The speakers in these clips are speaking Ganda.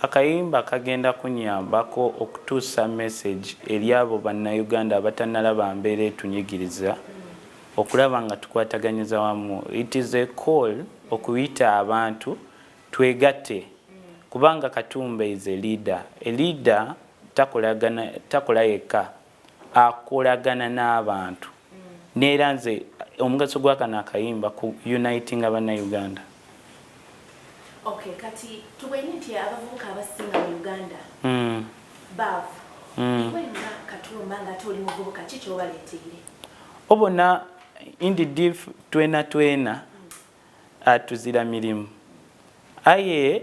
Akayimba kagenda kunyambako okutuusa message eri abo bannayuganda abatanalaba mbeera etunyigiriza okulaba nga tukwataganyiza wamu. It is a call okuyita abantu twegatte kubanga Katumba is a leader. A leader takolagana takola yekka. akolagana n'abantu neera nze omugaso gwakano akayimba ku unitinga bannauganda kati tumanyi nti abavubuka abasinga mu uganda hmm. baavu hmm. nga katumba nga ate oli muvubuka ki kyobaleeteire obona indidif twena twena hmm. atuzira mirimu aye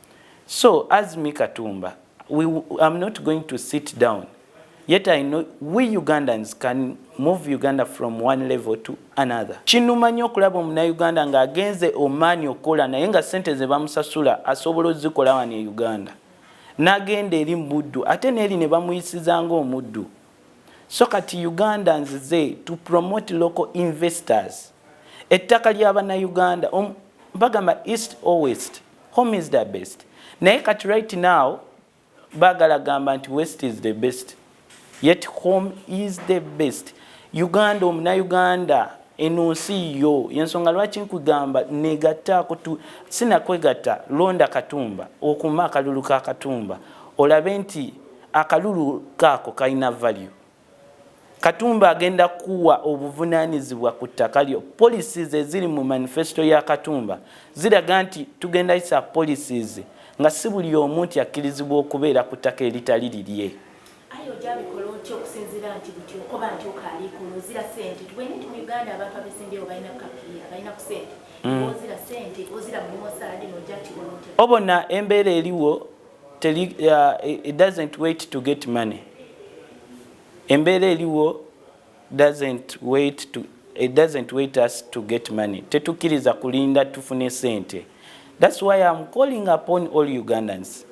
so as me katumba we, I'm not going to sit down yet I know we Ugandans can move Uganda from one level to another. Kinuma nnyo okulaba omunayuganda ng'agenze omaani okukola naye nga ssente ze bamusasula asobola ozikola wano e Uganda n'agenda eri mu buddu ate n'eri ne bamuyisiza ng'omuddu. So kati Ugandans ze to promote local investors ettaka ly'abanayuganda bagamba east or west Home is the best. Naye kati right now bagala gamba nti west is the best. Yet home is the best. Uganda omuna Uganda eno nsi yo yensonga lwaki nkugamba negattaako tu sinakwegatta londa katumba okuuma akalulu ka katumba olabe nti akalulu kaako kalina value. Katumba agenda kuwa obuvunanyizibwa ku ttaka lyo. Policies eziri mu manifesto ya Katumba ziraga nti tugenda yisa policies nga si buli omu nti akkirizibwa okubeera ku ttaka eritali lirye. Aye oja bikola otya okusinzira nti buti okoba nti oka alikula ozira sente tubaine nti mu Uganda abantu abesimbyewo balina kapiya balina ku sente mm. ozira sente ozira mumosaadi noja kikola otya obona embeera eliwo Teli, uh, it doesn't wait to get money. Embeera eliwo doesn't wait to it doesn't wait us to get money. Tetukiriza kulinda tufune sente. That's why I'm calling upon all Ugandans.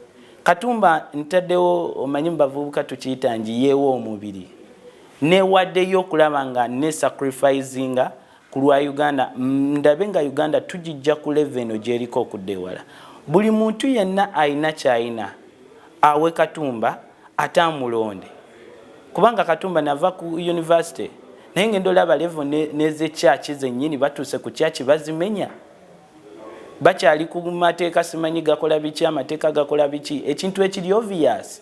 Katumba ntadewo omanyi mbavubuka tukiyita njiyewo omubiri. Newadeyo okulaba nga ne sacrificinga Ku lwa Uganda, ndabe nga Uganda tugijja ku level eno gyeriko okudda ewala. Buli muntu yenna alina kyalina awe Katumba ate amulonde kubanga Katumba nava ku University naye ngenda olaba level neze church zenyini batuuse ku church bazimenya bakyali ku mateeka simanyi gakola biki amateeka gakola biki ekintu ekiri obvious.